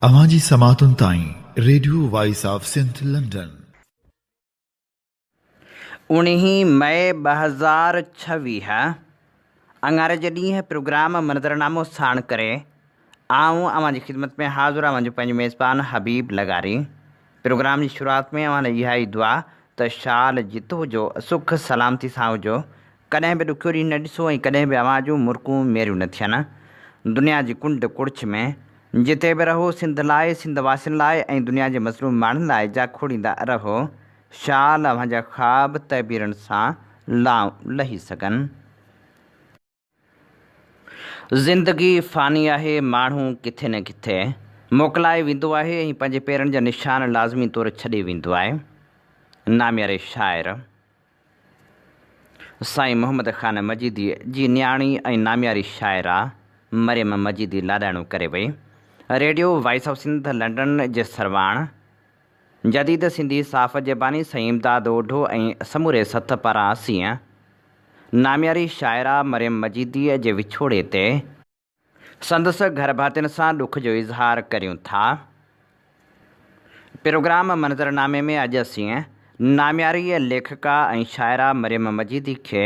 اوهان جي سماعتن تائين radio voice of Sindh London. اوڻيهين مئي ٻه هزار ڇويهه انڱاري جي ڏينهن پروگرام منظرنامو ساڻ ڪري آئون اوهان جي خدمت ۾ حاضر آهيان جو پنهنجو ميزبان حبيب لغاري. پروگرام جي شروعات ۾ اوهان لاء اها ئي دعا ته شال جت هجو، سک سلامتي سان هجو، ڪڏهن به ڏکيو ڏينهن نه ڏسو ۽ ڪڏهن به اوهان جون مرڪون ميريون نه ٿين. دنيا جي ڪنڊ ڪڙڇ ۾ جتي به رهو سنڌ لاء، سنڌ واسين لاء ۽ دنيا جي مظلوم ماڻهن لاء جا کوڙيندا رهو. شال اوهان جا خواب تعبيرن سان لائون لهي سگهن. زندگي فاني آهي، ماڻهو ڪٿي نه ڪٿي موڪلائي ويندو آهي ۽ پنهنجي پيرن جا نشان لازمي طور ڇڏي ويندو آهي. نامياري شاعر سائين محمد خان مجيدي جي نياڻي ۽ نامياري شاعره مريم مجيدي لاڏاڻو ڪري وئي. Radio voice of Sindh London جي سرواڻ، جديد سنڌي صاف جي باني سائين امداد اوڍو ۽ سموري سٿ پاران اسين نامياري شاعره مريم مجيديء جي وڇوڙي تي، سندس گهرڀاتين سان ڏک جو اظهار ڪريون ٿا. پروگرام منظرنامي ۾ اڄ اسين نامياريء ليکڪا ۽ شاعره مريم مجيدي کي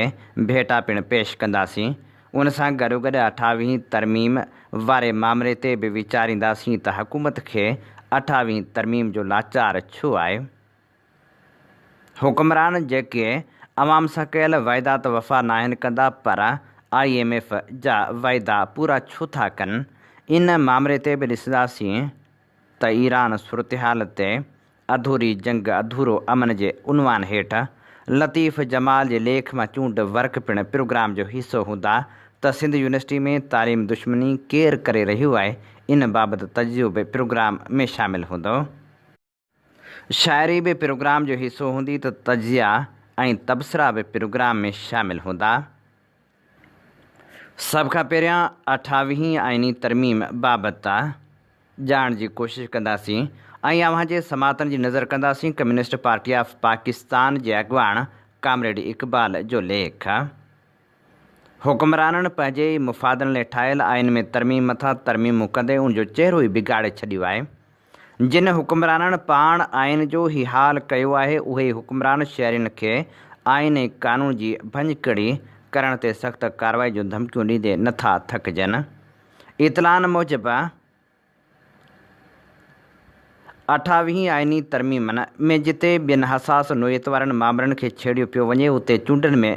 ڀيٽا پڻ پيش ڪنداسين. ان سان گڏوگڏ اٺاويهين ترميم واري مامري تي به ويچارينداسين ته حڪومت کي اٺاويهين ترميم جو لاچار ڇو آهي؟ حڪمران جيڪي عوام سان ڪيل وعدا ته وفا ناهن ڪندا پر آء ايم ايف جا وعدا پورا ڇو ٿا ڪن؟ ان مامري تي به ڏسنداسين ته ايران صورتحال تي اڌوري جنگ اڌورو امن جي عنوان هيٺ لطيف جمال جي ليک مان چونڊ ورق پڻ پروگرام جو حصو هوندا ته سنڌ يونيورسٽي ۾ تعليم دشمني ڪير ڪري رهيو آهي ان بابت تجزيو به پروگرام ۾ شامل هوندو شاعري به پروگرام جو حصو هوندي ته تجزيا ۽ تبصرا به پروگرام ۾ شامل هوندا. سڀ کان پهريان اٺاويهين آئيني ترميم بابت ته ڄاڻ جي ڪوشش ڪنداسين ۽ اوهان جي سماعتن جي نظر ڪنداسين ڪميونسٽ پارٽي آف پاڪستان جي اڳواڻ ڪامريڊ اقبال جو ليک حڪمرانن پنهنجي ئي مفادن لئي ٺاهيل آئين ۾ ترميم مٿان ترميمون ڪندي ان جو چهرو ئي بگاڙي ڇڏيو آهي جن حڪمرانن پاڻ آئين جو هي حال ڪيو آهي، اهي ئي حڪمران شهرين کي آئين ۽ قانون جي ڀڃڪڙي ڪرڻ تي سخت ڪارروائي جون ڌمڪيون ڏيندي نه ٿا ٿڪجن. اطلاعن موجب، اٺاويهين آئيني ترميمن ۾ جتي ٻين حساس نوعيت وارن مامرن کي ڇيڙيو پيو وڃي، اتي چونڊن ۾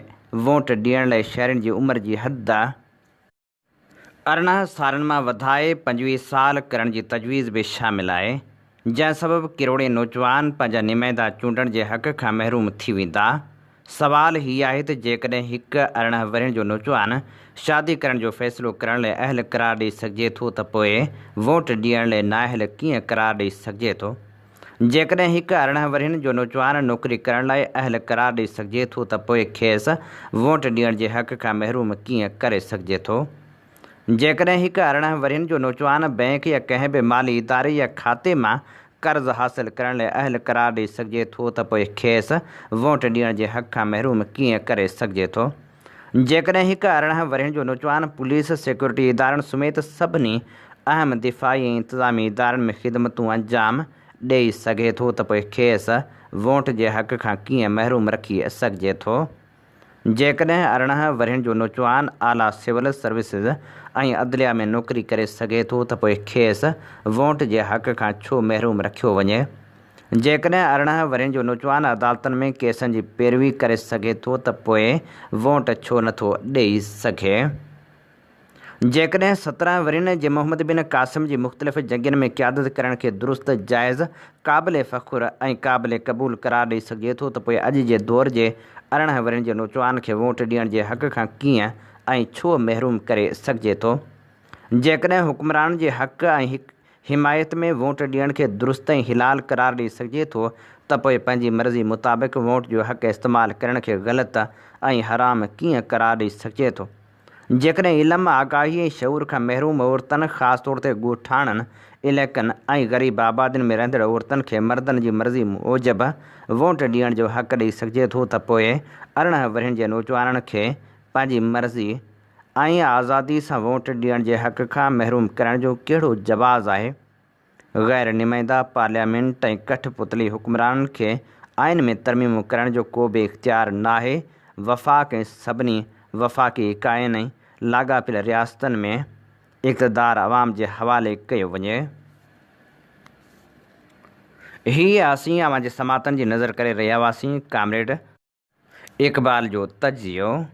ووٽ ڏيڻ لاء شهرين جي عمر جي حد، ارڙهن سالن مان وڌائي پنجويهه سال ڪرڻ جي تجويز به شامل آهي، جنهن سبب ڪروڙين نوجوان پنهنجا نمائندا چونڊڻ جي حق کان محروم ٿي ويندا. سوال هي آهي ته جيڪڏهن هڪ ارڙهن ورهين جو نوجوان شادي ڪرڻ جو فيصلو ڪرڻ لئه اهل قرار ڏئي سگهجي ٿو ته پوء ووٽ ڏيڻ لئه نااهل ڪيئن قرار ڏئي سگهجي ٿو؟ جيڪڏهن هڪ ارڙهن ورهين جو نوجوان نوڪري ڪرڻ لاء اهل قرار ڏئي سگهجي ٿو ته پوء کيس ووٽ ڏيڻ جي حق کان محروم ڪيئن ڪري سگهجي ٿو؟ جيڪڏهن هڪ ارڙهن ورهين جو نوجوان بئنڪ يا ڪنهن به مالي اداري يا کاتي مان قرض حاصل ڪرڻ لاء اهل قرار ڏئي سگهجي ٿو ته پوء کيس ووٽ ڏيڻ جي حق کان محروم ڪيئن ڪري سگهجي ٿو؟ جيڪڏهن هڪ ارڙهن ورهين جو نوجوان پوليس، سيڪيورٽي ادارن سميت سڀني اهم دفاعي ۽ انتظامي ادارن ۾ خدمتون انجام ڏئي سگهي ٿو ته پوء کيس ووٽ جي حق کان ڪيئن محروم رکي سگهجي ٿو؟ جيڪڏهن ارڙهن ورهين جو نوجوان اعليٰ سول سروسز ۽ عدليه ۾ نوڪري ڪري سگهي ٿو ته پوء کيس ووٽ جي حق کان ڇو محروم رکيو وڃي؟ جيڪڏهن ارڙهن ورهين جو نوجوان عدالتن ۾ ڪيسن جي پيروي ڪري سگهي ٿو ته پوء ووٽ ڇو نه ٿو ڏئي سگهي؟ جيڪڏهن سترهن ورهين جي محمد بن قاسم جي مختلف جنگين ۾ قيادت ڪرڻ کي درست، جائز، قابل فخر ۽ قابل قبول قرار ڏئي سگهجي ٿو ته پوء اڄ جي دور جي ارڙهن ورهين جي نوجوان کي ووٽ ڏيڻ جي حق کان ڪيئن ۽ ڇو محروم ڪري سگهجي ٿو؟ جيڪڏهن حڪمرانن جي حق ۽ حمايت ۾ ووٽ ڏيڻ کي درست ۽ حلال قرار ڏئي سگهجي ٿو ته پوء پنهنجي مرضي مطابق ووٽ جو حق استعمال ڪرڻ کي غلط ۽ حرام ڪيئن قرار ڏئي سگهجي ٿو؟ جيڪڏهن علم، آگاهي ۽ شعور کان محروم عورتن خاص طور تي ڳوٺاڻن علائقن ۽ غريب آبادين ۾ رهندڙ عورتن کي مردن جي مرضي موجب ووٽ ڏيڻ جو حق ڏئي سگهجي ٿو ته پوء ارڙهن ورهين جي نوجوانن کي پنهنجي مرضي ائين آزادي سان ووٽ ڏيڻ جي حق کان محروم ڪرڻ جو ڪهڙو جواز آهي؟ غير نمائنده پارليامينٽ ۽ ڪٺ پتلي حڪمرانن کي آئين ۾ ترميمون ڪرڻ جو ڪو به اختيار ناهي، وفاق ۽ سڀني وفاقي اڪائين ۽ لاڳاپيل رياستن ۾ اقتدار عوام جي حوالي ڪيو وڃي. هي اسين اوهان جي سماعتن جي نظر ڪري رهيا هئاسين ڪامريڊ. اقبال جو تجزيو،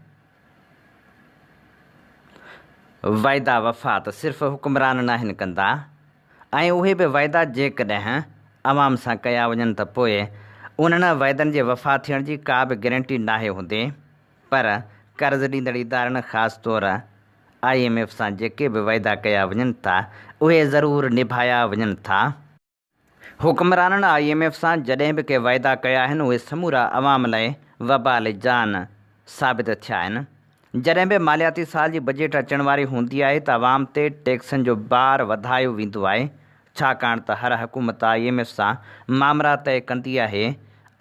وعدا وفا ته صرف حڪمران ناهن ڪندا ۽ اهي به وعدا جيڪڏهن عوام سان ڪيا وڃن ته پوء انهن وعدن جي وفا ٿيڻ جي ڪا به گرنٽي ناهي هوندي پر قرض ڏيندڙ ادارن خاص طور آء ايم ايف سان جيڪي به وعدا ڪيا وڃن ٿا اهي ضرور نڀايا وڃن ٿا. حڪمرانن آء ايم ايف سان جڏهن به ڪي وعدا ڪيا آهن اهي سمورا عوام لاء وبال جان ثابت ٿيا آهن. جڏهن به مالياتي سال جي بجيٽ اچڻ واري هوندي آهي ته عوام تي ٽيڪسن جو بار وڌايو ويندو آهي ڇاڪاڻ ته هر حڪومت آء ايم ايف سان مامرا طئي ڪندي آهي.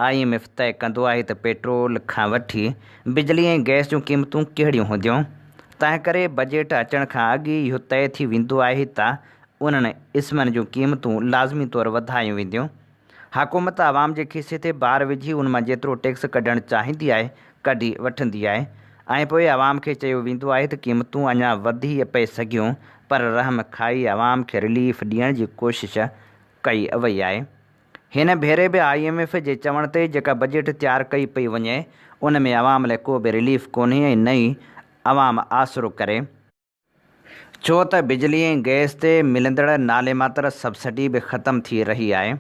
آء ايم ايف طئي ڪندو آهي ته پيٽرول کان وٺي بجلي ۽ گئس جون قيمتون ڪهڙيون هونديون تنهنڪري بجيٽ اچڻ کان اڳ ئي اهو طئي ٿي ويندو آهي ته انهن اسمن جون قيمتون لازمي طور وڌايون وينديون. حڪومت عوام جي کيسي تي بار وجهي ان مان جيترو ٽيڪس ڪڍڻ چاهيندي آهي ڪڍي وٺندي آهي ۽ پوء عوام کي چيو ويندو آهي ته قيمتون اڃا وڌي پئي سگهيون پر رحم کائي عوام کي رليف ڏيڻ جي ڪوشش ڪئي وئي آهي. هن ڀيري به آء ايم ايف جي چوڻ تي جيڪا بجيٽ تيار ڪئي پئي وڃي ان ۾ عوام لاء ڪو به رليف ڪونهي ۽ نه ئي عوام آسرو ڪري. ڇو ته بجلي ۽ گئس تي ملندڙ ناليماتر سبسڊي به ختم ٿي رهي آهي.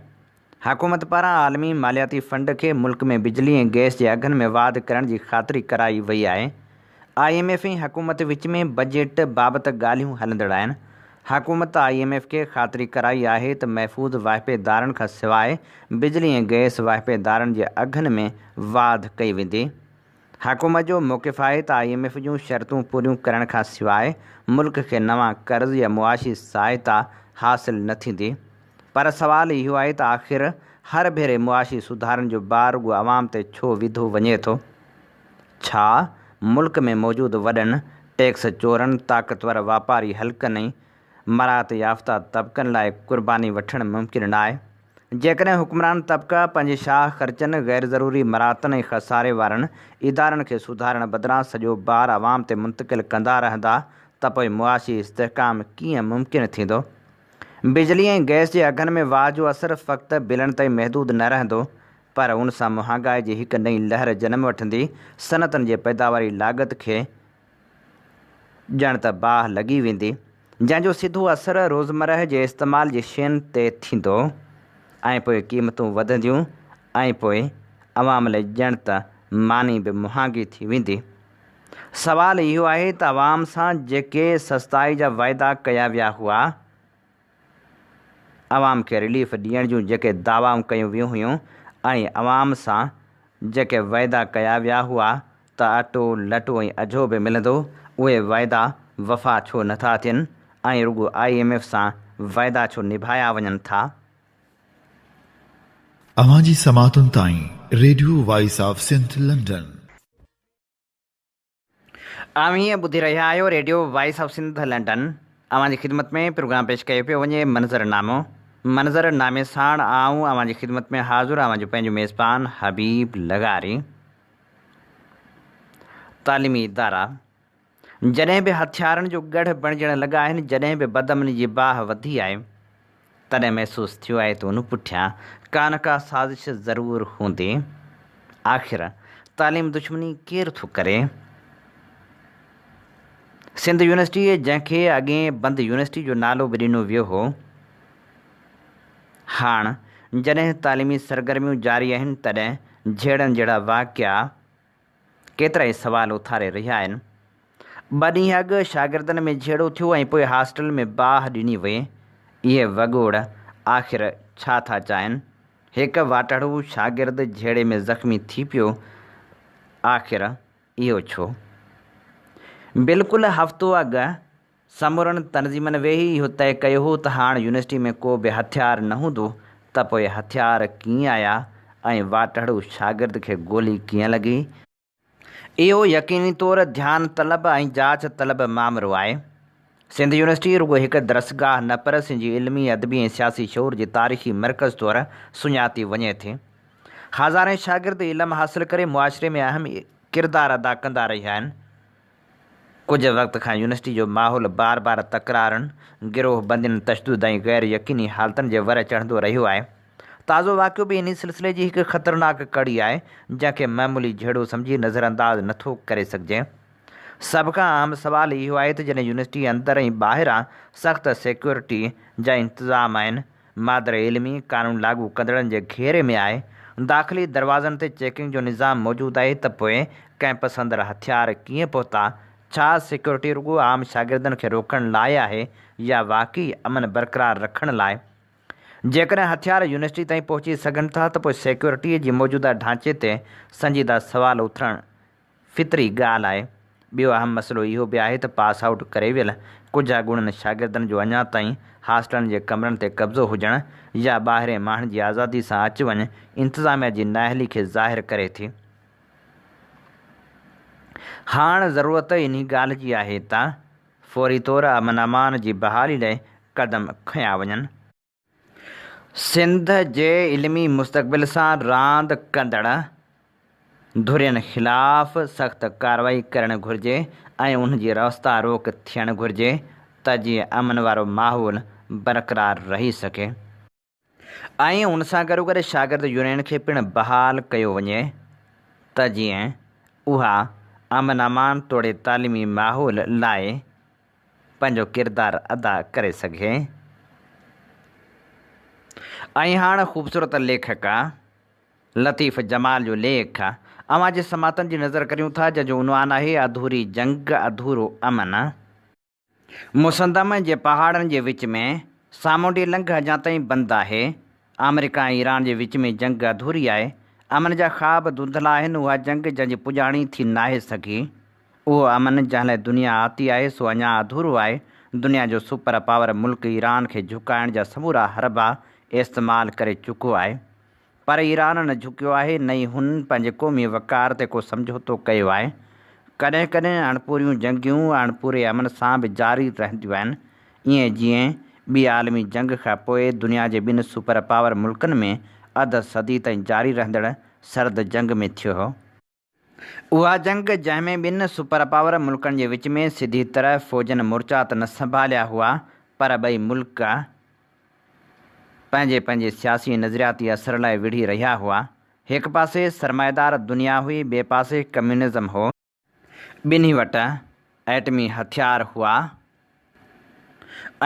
حڪومت پاران عالمي مالياتي فنڊ کي ملڪ ۾ بجلي ۽ گئس جي اگهن ۾ واڌ ڪرڻ جي خاطري ڪرائي وئي آهي. آء ايم ايف ۽ حڪومت وچ ۾ بجيٽ بابت ڳالهيون هلندڙ آهن. حڪومت آء ايم ايف کي خاطري ڪرائي آهي ته محفوظ واهپيدارن کان سواء بجلي ۽ گئس واهپيدارن جي اگهن ۾ واڌ ڪئي ويندي. حڪومت جو موقف آهي ته آء ايم ايف جون شرطون پوريون ڪرڻ کان سواء ملڪ کي نوان قرض يا معاشي سهائتا حاصل نه ٿيندي پر سوال اهو آهي ته آخر هر ڀيري معاشي سڌارن جو بار رڳو عوام تي ڇو وڌو وڃي ٿو؟ ڇا ملڪ ۾ موجود وڏن ٽيڪس چورن، طاقتور واپاري حلقن ۽ مراعات يافته طبقن لاء قرباني وٺڻ ممڪن ناهي. جيڪڏهن حڪمران طبقا پنهنجي شاهه خرچن، غيرضروري مراعتن ۽ خساري وارن ادارن کي سڌارڻ بدران سڄو بار عوام تي منتقل ڪندا رهندا ته پوء معاشي استحڪام ڪيئن ممڪن ٿيندو؟ بجلي ۽ گئس جي اگهن ۾ واهه جو اثر فقط بلن تائين محدود نه رهندو پر ان سان مهانگائي جي هڪ نئين لهر جنم وٺندي، صنعتن جي پيداواري لاڳت کي ڄڻ ته باهه لڳي ويندي، جنهن جو سڌو اثر روزمرهه جي استعمال جي شين تي ٿيندو ۽ پوء قيمتون وڌنديون ۽ پوء عوام لئي ڄڻ ته ماني به مهانگي ٿي ويندي. سوال اهو آهي ته عوام سان جيڪي سستائي جا وعدا ڪيا ويا هئا، عوام کي رليف ڏيڻ جون جيڪي دعوائون ڪيون ويون هيون ۽ عوام سان جيڪي وعدا ڪيا ويا هئا ته اٽو، لٽو ۽ اجهو به ملندو، اهي وعدا وفا ڇو نه ٿا ٿين ۽ رڳو آء ايم ايف سان وعدا ڇو نڀايا وڃن ٿا؟ اوهان جي سماعتن تائين radio voice of Sindh London. اوهين ٻڌي رهيا آهيو radio voice of Sindh London اوهان جي خدمت ۾ پروگرام پيش ڪيو پيو وڃي منظر نامو منظر نامي ساڻ آئون اوهان جي خدمت ۾ حاضر اوهان جو پنهنجو ميزبان حبيب لغاري تعليمي ادارا جڏهن به هٿيارن جو ڳڙهه بڻجڻ لڳا آهن جڏهن به بدامني جي باهه وڌي آهي تڏهن محسوس ٿيو آهي ته ان پٺيان ڪا نه ڪا سازش ضرور هوندي. آخر تعليم دشمني ڪير ٿو ڪري؟ سنڌ يونيورسٽيء جنهن کي اڳي بند يونيورسٽيء جو نالو به ڏنو ويو هو، هاڻ جڏهن تعليمي سرگرميون جاري آهن، تڏهن جهيڙن جهڙا واقعا، ڪيترائي سوال اٿاري رهيا آهن. ٻه ڏينهن اڳ شاگردن ۾ جهيڙو ٿيو ۽ پوء هاسٽل ۾ باهه ڏني وئي. اهي وڳوڙ آخر ڇا ٿا چاهين؟ هڪ واٽهڙو شاگرد جهيڙي ۾ زخمي ٿي پيو، آخر اهو ڇو؟ بلڪل هفتو اڳ سمورن تنظيمن ويهي اهو طئي ڪيو هو ته هاڻ يونيورسٽي ۾ ڪو به هٿيار نه هوندو ته پوء هٿيار ڪيئن آيا ۽ واٽهڙو شاگرد کي گولي ڪيئن لڳي؟ اهو يقيني طور ڌيان طلب ۽ جاچ طلب مامرو آهي. سنڌ يونيورسٽي رڳو هڪ درسگاهه نه پر سنڌ جي علمي، ادبي ۽ سياسي شعور جي تاريخي مرڪز طور سڃاتي وڃي ٿي. هزارين شاگرد علم حاصل ڪري معاشري ۾ اهم ڪردار ادا ڪندا رهيا آهن. ڪجهه وقت کان يونيورسٽي جو ماحول بار بار تڪرارن، گروهه بندين، تشدد ۽ غير يقيني حالتن جي ور چڙهندو رهيو آهي. تازو واقعو به انهي سلسلي جي هڪ خطرناڪ ڪڙي آهي، جنهن کي معمولي جهيڙو سمجهي نظرانداز نه ٿو ڪري سگهجي. سڀ کان اهم سوال اهو آهي ته جڏهن يونيورسٽي اندر ۽ ٻاهران سخت سيڪيورٽي جا انتظام آهن، مادر علمي قانون لاڳو ڪندڙن جي گهيري ۾ آهي، داخلي دروازن تي چيڪنگ جو نظام موجود آهي ته پوء ڪئمپس اندر هٿيار ڪيئن پهتا؟ ڇا سيڪيورٽي رڳو عام شاگردن کي روڪڻ لاء آهي يا واقعي امن برقرار رکڻ لاء؟ جيڪڏهن هٿيار يونيورسٽي تائين پهچي سگهن ٿا ته پوء سيڪيورٽيء جي موجوده ڍانچي تي سنجيده سوال اٿرڻ فطري ڳالهه آهي. ٻيو اهم مسئلو اهو به آهي ته پاس آئوٽ ڪري ويل ڪجهه اڳوڻن شاگردن جو اڃا تائين هاسٽلن جي ڪمرن تي قبضو هجڻ يا ٻاهرين ماڻهن جي آزادي سان اچ وڃ انتظاميا جي نااهلي کي ظاهر ڪري ٿي. هاڻ ضرورت انهي ڳالهه جي آهي ته فوري طور امن امان جي بحالي لئي قدم کنيا وڃن. سنڌ جي علمي مستقبل سان راند ڪندڙ ڌرين خلاف سخت ڪارروائي ڪرڻ گهرجي ۽ انهن جي راستا روڪ ٿيڻ گهرجي ته جيئن امن وارو ماحول برقرار رهي سگهي ۽ ان سان گڏوگڏ شاگرد يونين کي پڻ بحال ڪيو وڃي ته جيئن اها امن امان توڙي تعليمي ماحول لاء پنهنجو ڪردار ادا ڪري سگهي ۽ هاڻ خوبصورت ليکڪا لطيف جمال جو ليک اوهان جي سماعتن جي نظر ڪريون ٿا جنهن جو عنوان آهي اڌوري جنگ اڌورو امن. مسندم جي پهاڙن جي وچ ۾ سامونڊي لنگهه اڃا تائين بند آهي، آمريڪا ۽ ايران جي وچ ۾ جنگ اڌوري آهي، امن جا خواب ڌنڌلا آهن، اها جنگ جنهن جي پڄاڻي ٿي ناهي سگهي. اهو امن جنهن لاء دنيا آتي آهي سو اڃا اڌورو آهي، دنيا جو سپر پاور ملڪ ايران کي جهڪائڻ جا سمورا حربا استعمال ڪري چڪو آهي پر ايران نه جهڪيو آهي نه ئي هن پنهنجي قومي وقار تي ڪو سمجهوتو ڪيو آهي، ڪڏهن ڪڏهن اڻپوريون جنگيون اڻپوري امن سان به جاري رهنديون آهن ائين جيئن ٻي عالمي جنگ کان پوء دنيا جي ٻن سپر پاور ملڪن ۾ اڌ صدي تائين جاري رهندڙ سرد جنگ ۾ ٿيو هو. اها جنگ جنهن ۾ ٻن سپر پاور ملڪن جي وچ ۾ سڌي طرح فوجن مورچا ته نه سنڀاليا هئا پر ٻئي ملڪ پنهنجي پنهنجي سياسي ۽ نظرياتي اثر لاء وڙهي رهيا هئا. هڪ پاسي سرمائيدار دنيا هئي ٻئي پاسي ڪميونزم هو. ٻنهي وٽ ايٽمي هٿيار هئا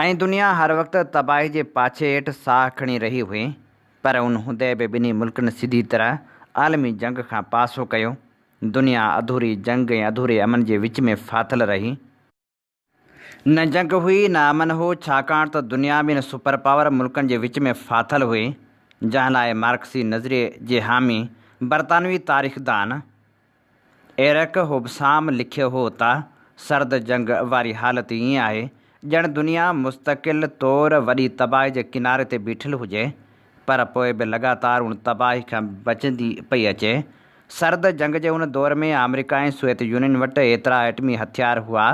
۽ دنيا هر وقت تباهي جي پاڇي هيٺ ساهه کڻي رهي هئي، پر ان هوندي به ٻنهي ملڪن سڌي طرح عالمي جنگ کان پاسو ڪيو. دنيا اڌوري جنگ ۽ اڌوري امن جي وچ ۾ ڦاٿل رهي. نه جنگ هئي، نه امن هو، ڇاڪاڻ ته دنيا ٻن سپر پاور ملڪن جي وچ ۾ ڦاٿل هئي، جنهن لاء مارڪسي نظريي جي حامي برطانوي تاريخدان، ايرڪ هوبسام لکيو هو ته، سرد جنگ واري حالت ائين آهي، ڄڻ دنيا مستقل طور وڏي تباهي جي ڪناري تي بيٺل هجي، پر پوء به لڳاتار ان تباهي کان بچندي پئي اچي. سرد جنگ جي ان دور ۾ آمريڪا ۽ سويت يونين وٽ ايترا ايٽمي هٿيار هئا،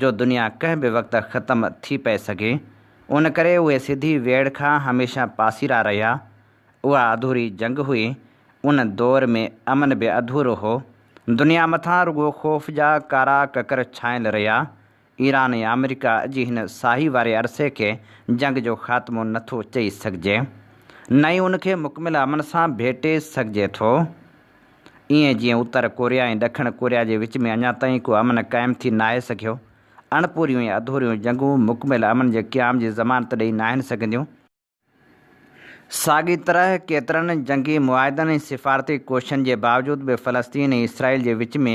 جو دنيا ڪنهن به وقت ختم ٿي پئي سگهي. ان ڪري اهي سڌي ويڙهه کان هميشه پاسيرا رهيا. اها اڌوري جنگ هئي. ان دور ۾ امن به اڌورو هو. دنيا مٿان رڳو خوف جا ڪارا ڪڪر ڇانيل رهيا. ايران ۽ آمريڪا جي هن ساهي واري عرصي کي جنگ جو خاتمو نه ٿو چئي سگهجي. نه ئي ان کي مڪمل امن سان ڀيٽي سگهجي ٿو. ايئن جيئن اتر ڪوريا ۽ ڏکڻ ڪوريا جي وچ ۾ اڃا تائين ڪو امن قائم ٿي ناهي سگهيو. اڻپوريون ۽ اڌوريون جنگون مڪمل امن جي قيام جي ضمانت ڏئي ناهن سگهنديون. ساڳي طرح ڪيترن جنگي معاهدن ۽ سفارتي ڪوششن جي باوجود به فلسطين ۽ اسرائيل جي وچ ۾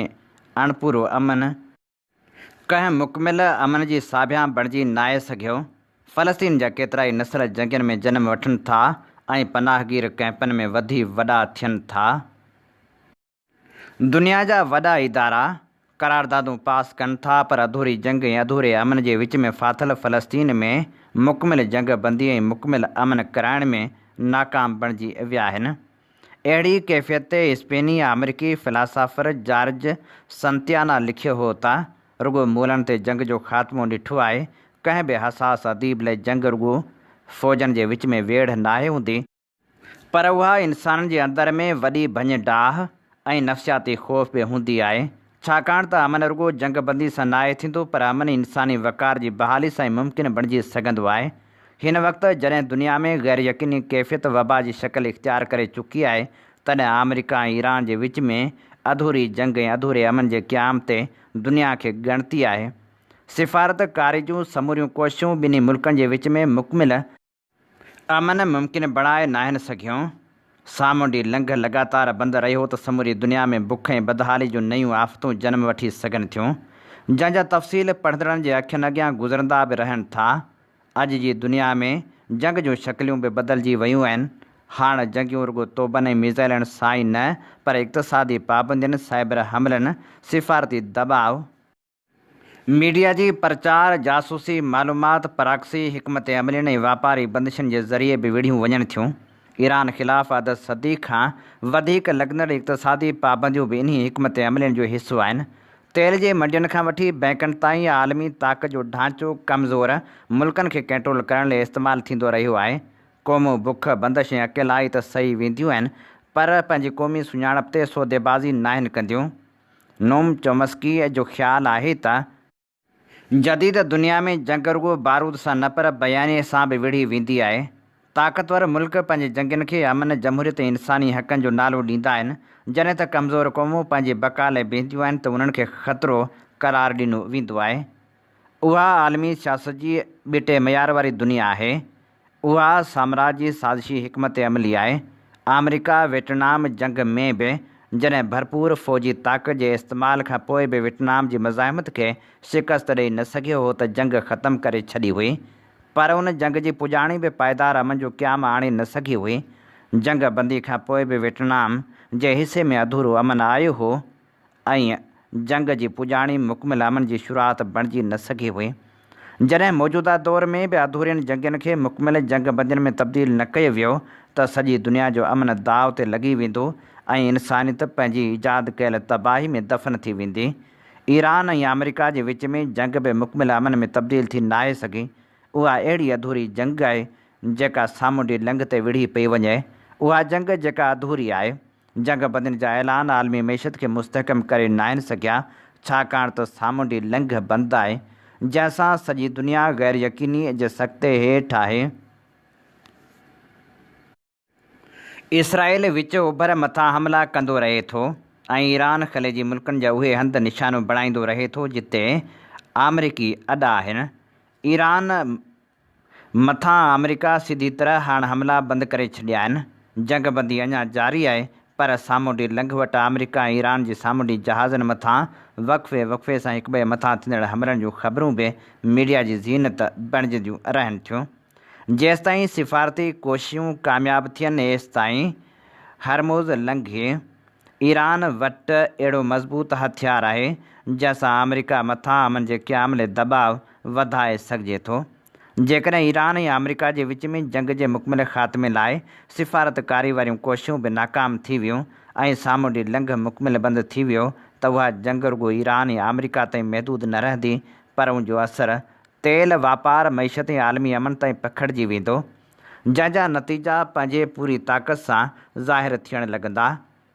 اڻپورو امن، ڪنهن مڪمل امن جي ساڀيان بڻجي ناهي سگهيو، فلسطين جا ڪيترائي نسل جنگين ۾ جنم وٺن ٿا ۽ پناهگير ڪئمپن ۾ وڌي وڏا ٿين ٿا. دنيا جا وڏا ادارا قراردادون پاس ڪن ٿا پر اڌوري جنگ ۽ اڌوري امن جي وچ ۾ ڦاٿل فلسطين ۾ مڪمل جنگ بندي ۽ مڪمل امن ڪرائڻ ۾ ناڪام بڻجي ويا آهن. اهڙي ڪيفيت تي اسپيني آمريڪي فلاسافر جارج سنتيانا لکيو هو ته، رڳو مولن تي جنگ جو خاتمو ڏٺو آهي، ڪنهن به حساس اديب لئه جنگ رڳو فوجن جي وچ ۾ ويڙهه ناهي هوندي، پر اها انسانن جي اندر ۾ وڏي ڀڃ ڊاهه ۽ نفسياتي خوف به هوندي آهي، ڇاڪاڻ ته امن رڳو جنگ بندي سان ناهي ٿيندو پر امن انساني وقار جي بحالي سان ئي ممڪن بڻجي سگهندو آهي. هن وقت جڏهن دنيا ۾ غير يقيني ڪيفيت وبا جي شڪل اختيار ڪري چڪي آهي، تڏهن آمريڪا ۽ ايران جي وچ ۾ اڌوري جنگ ۽ اڌوري امن جي قيام تي دنيا کي ڳڻتي آهي. سفارت ڪاري جون سموريون ڪوششون ٻنهي ملڪن جي وچ ۾ مڪمل امن ممڪن بڻائي ناهن سگهيو. سامونڊي لنگهه لڳاتار بند رهيو ته سموري دنيا ۾ بک ۽ بدحالي جون نيون آفتون جنم وٺي سگهن ٿيون، جنهن جا تفصيل پڙهندڙن جي اکين اڳيان گذرندا به رهن ٿا. اڄ جي دنيا ۾ جنگ جون شڪليون به بدلجي ويون آهن. هاڻ جنگيون رڳو توبن ۽ ميزائلن سان ئي نه پر اقتصادي پابندين، سائبر حملن، سفارتي دٻاء، ميڊيا جي پرچار، جاسوسي، معلومات، پراڪسي، حڪمت عملين ۽ واپاري بندشن جي ذريعي به وڙهيون وڃن ٿيون. ايران خلاف اڌ صدي کان وڌيڪ لڳندڙ اقتصادي پابنديون به انهي حڪمت عملين جو حصو آهن. تيل جي منڊين کان وٺي بئنڪن تائين عالمي طاقت جو ڍانچو ڪمزور ملڪن کي ڪنٽرول ڪرڻ لئي استعمال ٿيندو رهيو آهي. قومون بک، بندش ۽ اڪيلائي ته سهي وينديون آهن پر پنهنجي قومي سڃاڻپ تي سوديبازي ناهن ڪنديون. نوم چومسڪيء جو خيال آهي ته، جديد دنيا ۾ جنگ رڳو بارود سان نه پر بيانيي سان به وڙهي ويندي آهي. طاقتور ملڪ پنهنجي جنگين کي امن، جمهوريت ۽ انساني حقن جو نالو ڏيندا آهن، جڏهن ته ڪمزور قومون پنهنجي بقا لاء بيهنديون آهن ته انهن کي خطرو قرار ڏنو ويندو آهي. اها عالمي سياست جي ٻيٽي معيار واري دنيا آهي، اها سامراجي سازشي حڪمت عملي آهي. آمريڪا ويٽنام جنگ ۾ به جڏهن ڀرپور فوجي طاقت جي استعمال کان پوء به ويٽنام جي مزاحمت کي شڪست ڏئي نه سگهيو هو ته جنگ ختم ڪري ڇڏي هئي پر ان جنگ جي پڄاڻي به پائيدار امن جو قيام آڻي نه سگهي هئي. جنگ بندي کان پوء به ويٽنام جي حصي ۾ اڌورو امن آيو هو ائين جنگ جي پڄاڻي مڪمل امن جي شروعات بڻجي نه سگهي هئي. جڏهن موجوده دور ۾ به اڌورين جنگين کي مڪمل جنگ بندين ۾ تبديل نه ڪيو ويو ته سڄي دنيا جو امن داء تي لڳي ويندو ۽ انسانيت پنهنجي ايجاد ڪيل تباهي ۾ دفن ٿي ويندي. ايران ۽ آمريڪا جي وچ ۾ جنگ به مڪمل امن ۾ تبديل ٿي ناهي سگهي. اها اهڙي اڌوري جنگ آهي جيڪا سامونڊي لنگهه تي وڙهي پئي وڃي. اها جنگ جيڪا اڌوري آهي. جنگ بندين جا اعلان عالمي معيشت کي مستحڪم ڪري ناهن سگهيا، ڇاڪاڻ ته سامونڊي لنگهه بند آهي، جنهن سان سڄي دنيا غير يقينيء جي سڪتي هيٺ آهي. اسرائيل وچ اوڀر مٿان حملا ڪندو رهي ٿو ۽ ايران خليجي ملڪن جا اهي هنڌ نشانو بڻائيندو رهي ٿو جتي آمريڪي اڏا آهن. ايران. مٿان آمريڪا سڌي طرح هاڻ حملا بند ڪري ڇڏيا آهن، جنگ بندي اڃا جاري آهي پر سامونڊي لنگهه وٽ آمريڪا ۽ ايران جي سامونڊي جهازن مٿان وقفي وقفي سان هڪٻئي مٿان ٿيندڙ حملن جون خبرون به ميڊيا جي زينت بڻجنديون رهن ٿيون جيستائين سفارتي ڪوشيون ڪامياب ٿين ايستائين هرمز لنگهي ايران وٽ اهڙو مضبوط هٿيار آهي جنهن سان آمريڪا مٿان امن جي قيام لئه دٻاء وڌائي سگهجي ٿو. جيڪڏهن ايران ۽ آمريڪا جي وچ ۾ جنگ جي مڪمل خاتمي لاء سفارتڪاري واريون ڪوششون به ناڪام ٿي ويون ۽ سامونڊي لنگهه مڪمل بند ٿي ويو ته اها جنگ رڳو ايران ۽ آمريڪا تائين محدود نه رهندي پر ان جو اثر تيل واپار، معيشت ۽ عالمي امن تائين پکڙجي ويندو. جنهن جا نتيجا پنهنجي پوري طاقت سان ظاهر ٿيڻ لڳندا.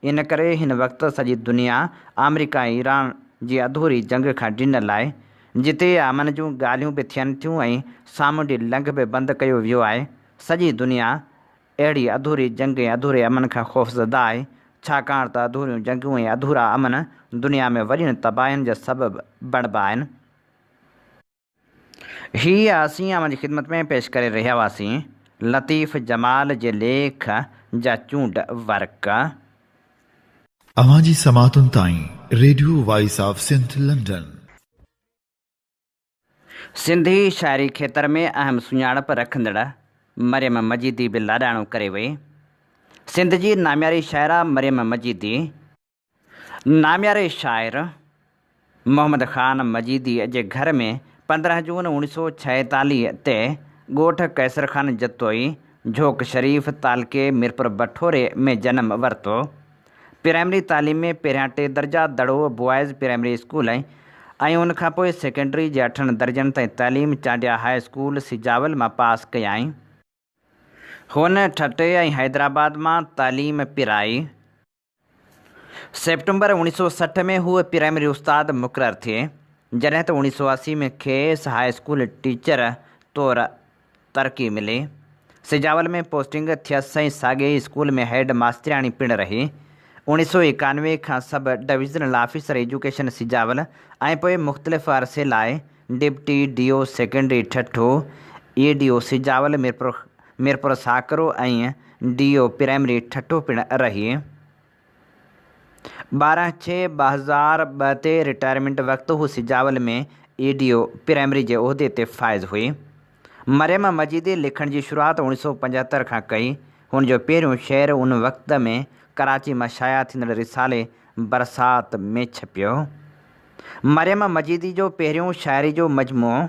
ان ڪري هن وقت سڄي دنيا آمريڪا ۽ ايران جي اڌوري جنگ کان ڊنل آهي، جتي امن جون ڳالهيون به ٿين ٿيون ۽ سامونڊي لنگهه به بند ڪيو ويو آهي. سڄي دنيا اهڙي اڌوري جنگ ۽ اڌوري امن کان خوفزده آهي، ڇاڪاڻ ته اڌوريون جنگون ۽ اڌورا امن دنيا ۾ وڏين تباهين جا سبب بڻبا آهن. هي اسين اوهان جي خدمت ۾ پيش ڪري رهيا هئاسين لطيف جمال جي ليک جا چونڊ ورق. اوهان جي سماعتن تائين radio voice of Sindh London. Sindhi شاعري کيتر ۾ اهم سڃاڻپ رکندڙ مريم مجيدي به لاڏاڻو ڪري وئي. سنڌ جي نامياري شاعره مريم مجيدي. نامياري شاعر محمد خان مجيديء جي گهر ۾ پندرهن جون اوڻيهه سؤ ڇاهيتاليهه تي ڳوٺ قيصر خان جتوئي، جهوڪ شريف، تعلقي ميرپور بٺوري ۾ جنم ورتو. پرائمري تعليم ۾ پهريان ٽي درجا دڙو بوائز پرائمري اسڪول ۽ ان کان پوء سيڪنڊري جي اٺن درجن تائين تعليم چانڊيا هاء اسڪول سجاول مان پاس ڪيائين. هن ٺٽي ۽ حيدرآباد مان تعليم پرائي. سيپٽمبر اوڻيھ سؤ سٺ ۾ هوء پرائمري استاد مقرر ٿئي، جڏهن ته اوڻيھ سؤ اسي ۾ کيس هاء اسڪول ٽيچر طور ترقي ملي. سجاول ۾ پوسٽنگ ٿيس ۽ ساڳئي ئي اسڪول ۾ هيڊ ماسترياڻي پڻ رهي. اوڻيھ سؤ ايڪانوي کان sub divisional officer education Sujawal ۽ پوء مختلف عرصي لاء deputy D O secondary Thatta, A D O Sujawal Mirpur Mirpur Sakro ۽ D O primary Thatta پڻ رهي. ٻارهن ڇهه ٻه هزار ٻه تي رٽائرمينٽ وقت هو Sujawal ۾ A D O primary جي عهدي تي فائز هئي. مريم مجيدي لکڻ جي شروعات اوڻيھ سؤ پنجهتر کان ڪئي. هن جو پهريون شعر ان وقت ۾ ڪراچي مان شايع ٿيندڙ رسالي برسات ۾ ڇپيو. مريم مجيدي جو پهريون شاعري جو مجموعو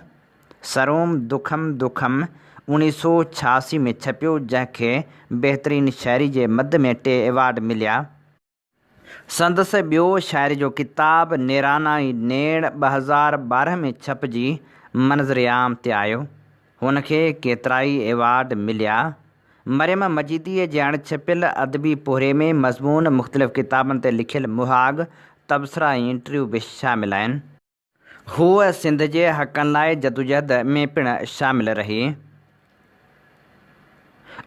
سروم دکم دکم اوڻيھ سؤ ڇياسي ۾ ڇپيو جنهن کي بهترين شاعري جي مد ۾ ٽي ايوارڊ مليا. سندس ٻيو شاعري جو ڪتاب نيرانائي نيڻ ٻه هزار ٻارهن ۾ ڇپجي منظرعام تي آيو. هن کي ڪيترائي ايوارڊ مليا. مريم مجيديء جي اڻڇپيل ادبي پورهيي ۾ مضمون، مختلف ڪتابن تي لکيل مهاڳ، تبصرا ۽ انٽرويو به شامل آهن. هوء سنڌ جي حقن لاء جدوجهد ۾ پڻ شامل رهي.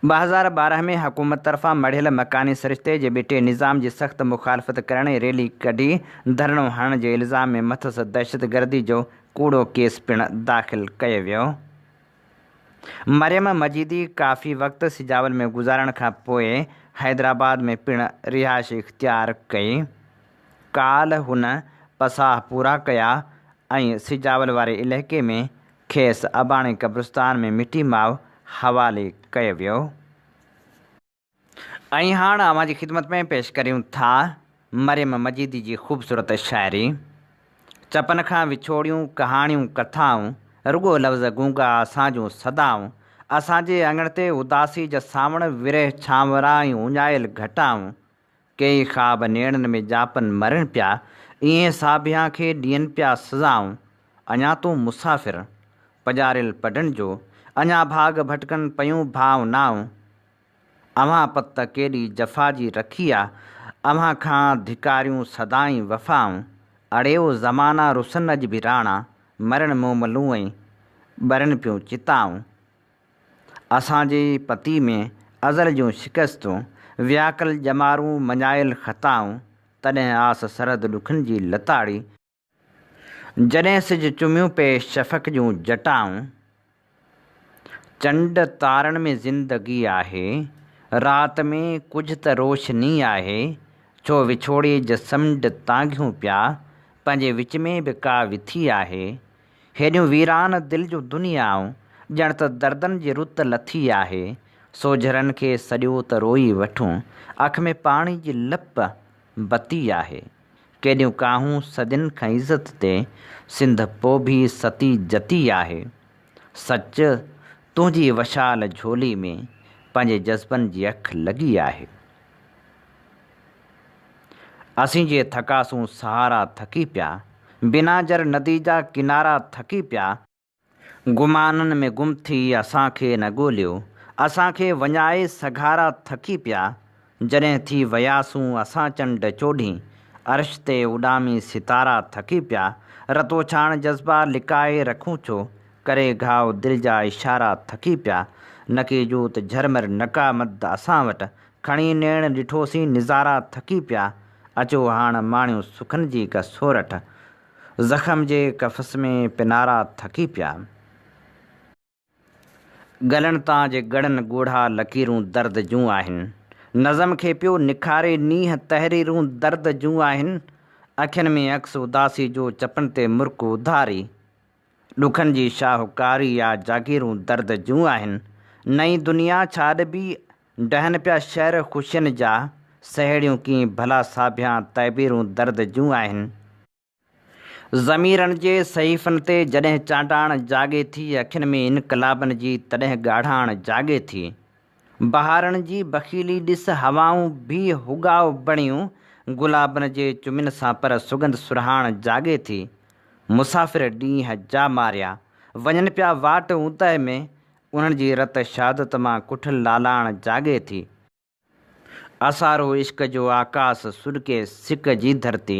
ٻه هزار ٻارهن ۾ حڪومت طرفان مڙهيل مڪاني سرشتي جي ٻيٽي نظام جي سخت مخالفت ڪرڻ ۽ ريلي ڪڍي ڌرڻو هڻڻ جي الزام ۾ مٿس دهشتگردي جو ڪوڙو ڪيس پڻ داخل ڪيو ويو. مريم مجيدي ڪافي وقت سجاول ۾ گذارڻ کان پوء حيدرآباد ۾ پڻ رهائش اختيار ڪئي. ڪالهه هن پساهه پورا ڪيا ۽ سجاول واري علائقي ۾ کيس اباڻي قبرستان ۾ مٺي ماء حوالي ڪيو ويو. ۽ هاڻ اوهان جي خدمت ۾ پيش ڪريون ٿا مريم مجيدي جي خوبصورت شاعري چپن کان وڇوڙيون ڪهاڻيون ڪٿائون رڳو لفظ گونگا اسان جون صدائون اسان جي اڱڻ تي اداسي جا سانوڻ ورهه ڇانورا ۽ اڃايل گهٽائون ڪيئي خواب نيڻن ۾ ڄاپن مرين پيا، ايئن ساڀيان کي ڏين پيا سزائون، اڃا تون مسافر، پڄاريل پڊن جو، اڃا ڀاڳ ڀٽڪن پيون ڀاونائون، اوهان پت ڪيڏي جفا جي رکي آ، اوهان کان ڌڪاريون سدائين وفائون، اڙي او زمانا رسن اڄ به راڻا، مرين موملوئين ٻرين پيون چتائون. اسان جي پتي ۾ ازل جون شڪستون، وياڪل ڄمارون مڃايل خطائون، تڏهن آس سرد ڏکن جي لتاڙي، جڏهن سج چميون پئي شفق جون جٽائون، چنڊ تارن ۾ زندگي آهي، رات ۾ ڪجهه ته روشني آهي، ڇو وڇوڙي جسمنڊ تانگهيون پيا، پنهنجي وچ ۾ به ڪا وٿي آهي، هيڏيون ويران دل جون دنيائون، ڄڻ ته دردن جي رت لٿي آهي، سوجهرن کي سڏيو ته روئي وٺون، اک ۾ پاڻي جي لپ بتي آهي، ڪيڏيون ڪاهون صدين کان عزت تي، سنڌ پوء به ستي جتي آهي، سچ تنهنجي وشال جهولي ۾، پنهنجي جذبن جي اک لڳي آهي. اسين جي ٿڪا سون سهارا ٿڪي پيا. بنا جر ندي جا ڪنارا ٿڪي پيا. گمانن ۾ گم ٿي اسان کي نه ڳوليو. اسان کي وڃائي سگهارا ٿڪي پيا. جڏهن ٿي وياسون اسان چنڊ چوڏهين. عرش تي اڏامي ستارا ٿڪي پيا. رتوڇاڻ جذبا لڪائي رکون ڇو. ڪري گهاء دل جا اشارا ٿڪي پيا. نڪي جوت جهرمر نڪا مد اسان وٽ. کڻي نيڻ ڏٺوسين نظارا ٿڪي پيا اچو هاڻ ماڻيو سکن جي ڪا سورٺ زخم جي قفس ۾ پنارا ٿڪي پيا ڳلن تان جي ڳڙن ڳوڙها لڪيرون درد جون آهن نظم کي پيو نکاري نينهن تحريرون درد جون آهن اکين ۾ عڪس اداسي جو چپن تي مرڪ اڌاري ڏکن جي شاهوڪاري آ جاگيرون درد جون آهن نئين دنيا ڇا ڏبي ڊهن پيا شعر خوشين جا، سهيڙيون ڪين ڀلا ساڀيان تعبيرون درد جون آهن. ضميرن جي صحيفن تي جڏهن چانڊاڻ جاڳي ٿي، اکين ۾ انقلابن جي تڏهن ڳاڙهاڻ جاڳي ٿي. بهارن جي بخيلي ڏس هوائون ڀي هوڳاء بڻيون گلابن جي چمين سان پر سڳنڌ سرهاڻ جاڳي ٿي. مسافر ڏينهن جا ماريا وڃن پيا واٽ اوندهه ۾، انهن جي رت شهادت مان ڪٺل لالاڻ جاڳي ٿي. آسارو عشق جو آڪاس سڏڪي سڪ جي ڌرتي.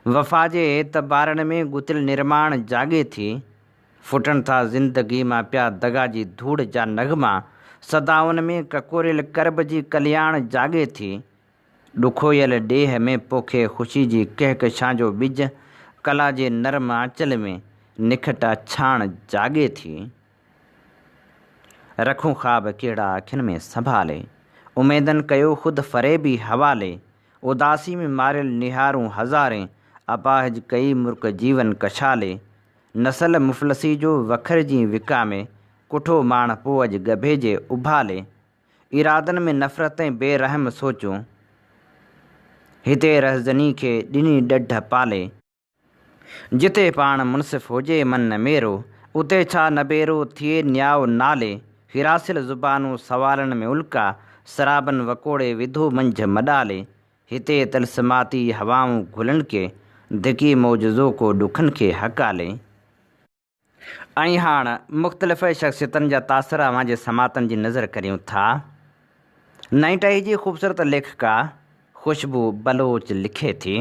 وفا جي اعتبارن ۾ ڳتيل نرماڻ جاڳي ٿي. ڦٽن ٿا زندگي مان پيا دغا جي ڌوڙ جا نغما. صدائن ۾ ڪڪوريل ڪرب جي ڪلياڻ جاڳي ٿي. ڏکويل ڏيهه ۾ پوکي خوشي جي ڪهڪشان جو ٻج. ڪلا جي نرم آنچل ۾ نکٽا ڇاڻ جاڳي ٿي. رکون خواب ڪهڙا اکين ۾ سنڀالي، اميدن ڪيو خود فريبي حوالي، اداسي ۾ ماريل نهارون هزارين، اپاهج ڪئي مرڪ جيون ڪشالي، نسل مفلسي جو وکرجين وڪامي، ڪٺو ماڻ پوء اڄ ڳڀي جي اڀالي، ارادن ۾ نفرت ۽ بي رحم سوچون، هتي رهزني کي ڏني ڏڍ پالي. جتي پاڻ منصف هجي من نه ميرو، اتي ڇا نبيرو ٿئي نيائو نالي، هراسيل زبانون سوالن ۾ الڪا، سرابن وڪوڙي وڌو منجهه مڏالي، هتي طلسماتي هوائون گهلن ڪي، ڌڪي معجزو ڪو ڏکن کي هڪالي. ۽ هاڻ مختلف شخصيتن جا تاثر اوهان جي سماعتن جي نذر ڪريون ٿا. نئين ٽهي جي خوبصورت ليکڪا خوشبو بلوچ لکي ٿي.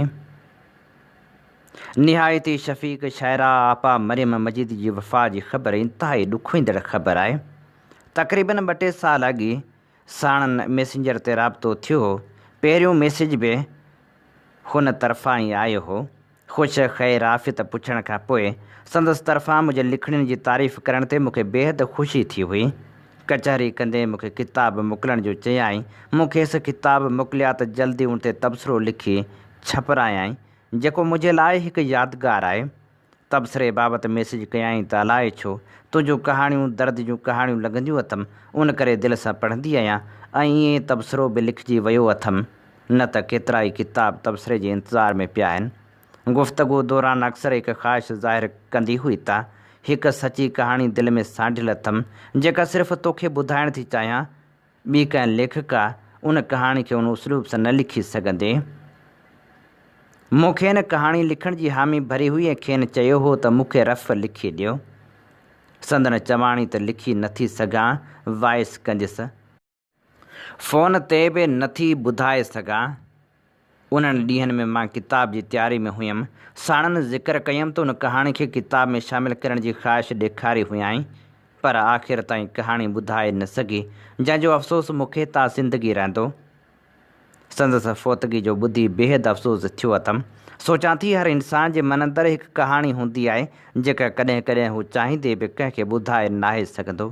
نهايت ئي شفيق شاعره آپا مريم مجيد جي وفات جي خبر انتهائي ڏکوئيندڙ خبر آهي. تقريبن ٻه ٽي سال اڳ ئي ساڻن ميسنجر تي رابطو ٿيو هو. پهريون ميسيج به هن طرفان ئي آيو هو. خوش خير عافيت پڇڻ کان پوء سندس طرفان منهنجي لکڻين جي تعريف ڪرڻ تي مون کي بيحد خوشي ٿي هئي. ڪچهري ڪندي مون کي ڪتاب موڪلڻ جو چيائين. مون کيس ڪتاب موڪليا ته جلدي ان تي تبصرو لکي ڇپرايائين، جيڪو منهنجي لاء هڪ يادگار آهي. تبصري بابت ميسيج ڪيائين ته الائي ڇو، تنهنجون ڪهاڻيون درد جون ڪهاڻيون لڳنديون اٿم، ان ڪري دل سان پڙهندي آهيان ۽ ائين تبصرو به لکجي ويو اٿم. نه ته ڪيترائي ڪتاب تبصري جي انتظار ۾ پيا آهن. گفتگو دوران اڪثر هڪ خواهش ظاهر ڪندي هئي ته هڪ سچي ڪهاڻي دل ۾ سانڍيل اٿم، جيڪا صرف توکي ٻڌائڻ ٿي چاهيان، ٻي ڪنهن ليکڪا ان ڪهاڻي کي ان اسلوب سان نه لکي سگهندي. مون کين ڪهاڻي لکڻ جي حامي ڀري هئي ۽ کين چيو هو ته مون کي رف لکي ڏيو. سندن چواڻي ته لکي نٿي سگهان، وائس ڪنديس. فون تي به نه ٿي ٻڌائي سگهان. انهن ڏينهن ۾ مان ڪتاب جي تياري ۾ هيم. ساڻن ذڪر ڪيم ته ان ڪهاڻي کي ڪتاب ۾ شامل ڪرڻ جي خواهش ڏيکاري هيائين، پر آخر تائين ڪهاڻي ٻڌائي نه سگهي، جنهن جو افسوس مون کي تا زندگي رهندو. سندس فوتگي جو ٻڌي بيحد افسوس ٿيو اٿم. سوچان ٿي هر انسان جي من اندر هڪ ڪهاڻي هوندي آهي، جيڪا ڪڏهن ڪڏهن هو چاهيندي به ڪنهن کي ٻڌائي ناهي سگهندو.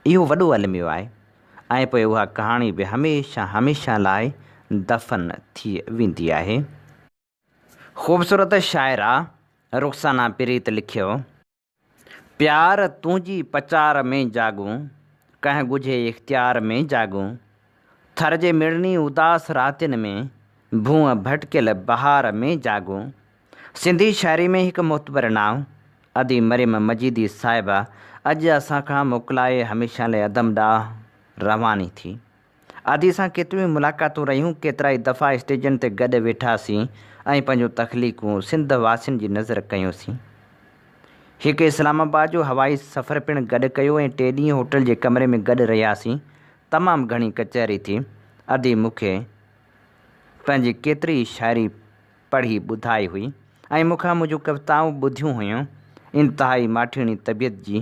اهو وڏو الميو آهي ۽ پوء اها ڪهاڻي به هميشه هميشه لاء دفن ٿي ويندي آهي. خوبصورت شاعره رخسانه پريت لکيو، پيار تنهنجي پچار ۾ جاڳون، ڪنهن ڳجهي اختيار ۾ جاڳون، ٿر جي مڙني اداس راتين ۾، ڀونء ڀٽڪيل بهار ۾ جاڳون. سنڌي شاعري ۾ هڪ معتبر نانء ادي مريم مجيدي صاحبه اڄ اسان کان موڪلائي هميشه لاء عدم ڏانهن رواني ٿي. ادي سان ڪيتريون ئي ملاقاتون رهيون، ڪيترائي دفعا اسٽيجن تي گڏ ويٺاسين ۽ پنهنجون تخليقون سنڌ واسين جي نظر ڪيونسين. هڪ اسلام آباد جو هوائي سفر پڻ گڏ ڪيو ۽ ٽي ڏينهن هوٽل جي ڪمري ۾ گڏ رهياسين. تمام گهڻي ڪچهري ٿي. ادي مون کي پنهنجي ڪيتري ئي شاعري پڙهي ٻڌائي هئي ۽ مون کان منهنجون ڪوتائون ٻڌيون هيون. انتهائي ماٺيڻي طبيعت جي،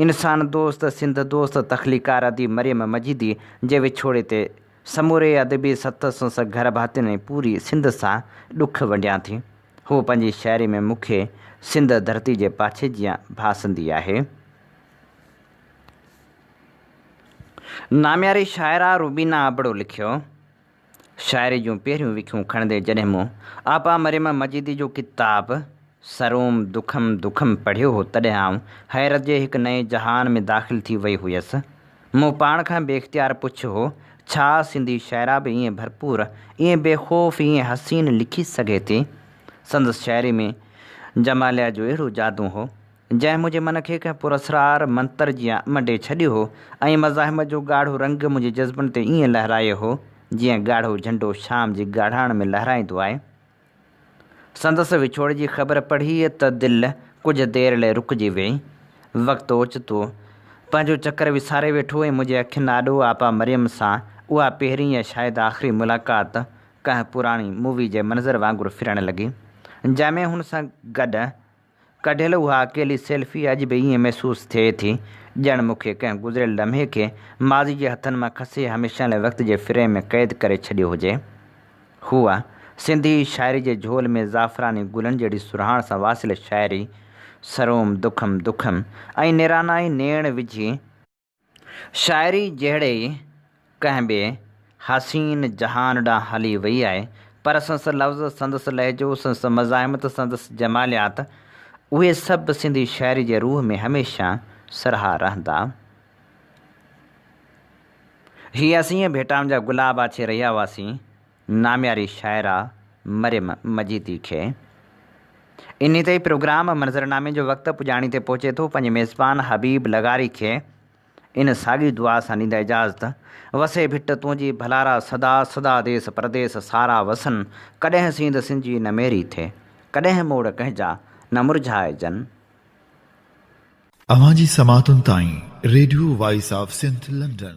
انسان دوست، سنڌ دوست تخليقڪار اديب مريم مجيدي جي وڇوڙي تي سموري ادبي سٿ، سنس، گهر ڀاتين ۽ پوري سنڌ سان ڏک ونڊيان ٿي. هوء پنهنجي شاعري ۾ مون کي سنڌ ڌرتي جي پاڇي جيان ڀاسندي آهي. نامياري شاعره روبينا ابڙو لکيو شاعري جون پهريون وکيون کڻندي جڏهن مون آپا مريم مجيدي جو ڪتاب سروم دکم دکم پڙهيو هو تڏهن آئون حيرت جي هڪ نئين جهان ۾ داخل ٿي وئي هيس. مون پاڻ کان بي اختيار پڇيو هو، ڇا سنڌي شاعره به ائين ڀرپور، ائين بي خوف، ائين حسين لکي سگهي ٿي؟ سندس شاعري ۾ جماليه جو اهڙو جادو هو، جنهن منهنجي من کي ڪنهن پراسرار منتر جيان منڊي ڇڏيو هو ۽ مزاحمت جو ڳاڙهو رنگ منهنجي جذبن تي ائين لهرايو هو، جيئن ڳاڙهو جهنڊو شام جي ڳاڙهاڻ ۾ لهرائيندو آهي. سندس وڇوڙي جي خبر پڙهي ته دل ڪجهه دير لئه رڪجي ويئي. وقت اوچتو پنهنجو چڪر وساري ويٺو ۽ منهنجي اکين آڏو آپا مريم سان اها پهرين يا شايد آخري ملاقات ڪنهن پراڻي مووي جي منظر وانگر ڦرڻ لڳي، جنهن ۾ هن سان گڏ ڪڍيل اها اڪيلي سيلفي اڄ به ائين محسوس ٿئي ٿي، ڄڻ مون کي ڪنهن گذريل لمحي کي ماضي جي هٿن مان کسي هميشه لاء وقت جي فريم ۾ قيد ڪري ڇڏيو هجي. هوء سنڌي شاعري جي جهول ۾ زعفراني گلن جهڙي سرهاڻ سان واسيل شاعري، سروم دکم دکم ۽ نيرانائي نيڻ وجهي، شاعري جهڙي ئي ڪنهن ٻئي حسين جهان ڏانهن هلي وئي آهي، پر سندس لفظ، سندس لهجو، سندس مزاحمت، سندس جماليات، اهي سڀ سنڌي شاعري جي روح ۾ هميشه سرها رهندا. هي اسين ڀيٽائن جا گلاب آڇي رهيا هئاسين، نامياري شاعره مريم مجيدي کي. انهي تي پروگرام منظرنامي جو وقت پڄاڻي تي پهچي ٿو پنهنجي ميزبان حبيب لغاري کي ان ساڳي دعا سان ڏيندا اجازت، وسي ڀٽ تنهنجي ڀلارا صدا صدا ديس پرديس سارا وسن ڪڏهن سينڌ سنجي نه ميري ٿي ڪڏهن موڙ ڪنهنجا نه مرجهائجن. اوهان جي سماعتن تائين radio voice of Sindh London.